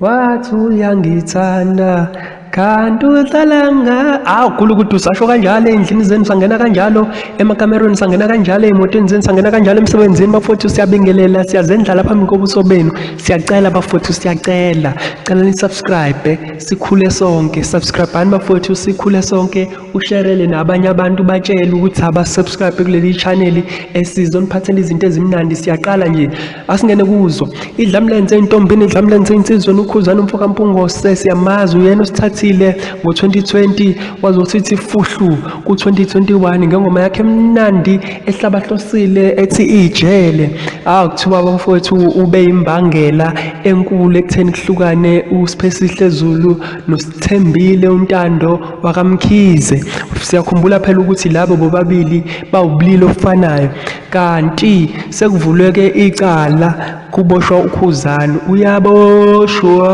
wathi uyangithanda kanti udlalanga awu khulu ukuthi usasho kanjalo ey'ndlini zenu sangena kanjalo emakamerweni sangena kanjalo ey'motweni zenu sangena kanjalo emsebenzini bafowethu siyabingelela siyazendlala phambi kobuso benu siyacela bafowethu siyacela cela nisubscribe sikhule sonke subscribani bafowethu sikhule sonke usherele nabanye abantu batshele ukuthi abasubscribe kuleli chaneli esizoniphathela izinto ezimnandi siyaqala nje asingene kuzo idlamlenze intombini idlamlenze insizwa nokhuzana umfo kampungose siyamazi uyena osithathile ngo-2020 wazosithi fuhlu ku-2021 ngengoma yakhe emnandi ehlabahlosile ethi ijele awu kuthiwa bamfowethu ube yimbangela enkulu ekutheni kuhlukane usiphesihle zulu nosithembile untando wakamkhize siyakhumbula phela ukuthi labo bobabili bawubulili ofanayo Kanti sekuvulwe ke icala kuboshwa uKhuzani uyaboshwa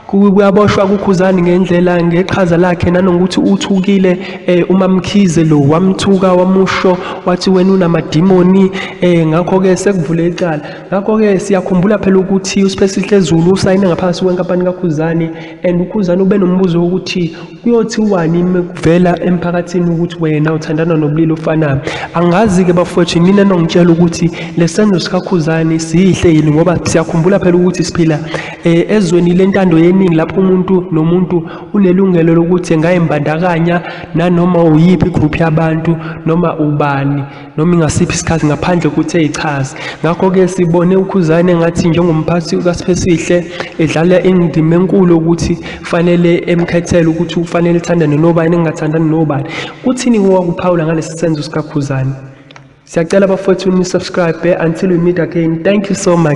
kuyaboshwa kukhuzani ngendlela ngeqhaza lakhe nanokuthi uthukile eh, uma mkhize lo wamthuka wamusho wathi wena unamadimoni eh, ngakho-ke sekuvule icala ngakho-ke siyakhumbula phela ukuthi uspesihle zulu usayine ngaphansi kwenkampani kakhuzani and ukhuzana ube nombuzo wokuthi kuyothiwani mekuvela emphakathini ukuthi wena uthandana nobulili ofanayo angazi-ke bafowethu nina nongitshela ukuthi le senzo sikakhuzane sihle yini ngoba siyakhumbula phela ukuthi siphila eh, ezweni lentando yeningi lapho umuntu nomuntu unelungelo lokuthi engayimbandakanya nanoma uyiphi igruphu yabantu noma ubani noma ingasiphi isikhathi ngaphandle ukuthi eyichaze ngakho-ke sibone ukhuzane ngathi njengomphathi kasipesihle edlala indima enkulu ukuthi fanele emkhethele ukuthi ufanele uthandane nobani engingathandani nobani kuthini kowakuphawula ngalesi senzo sikakhuzane siyacela bafowethu ni-subscribe until we meet again thank you so much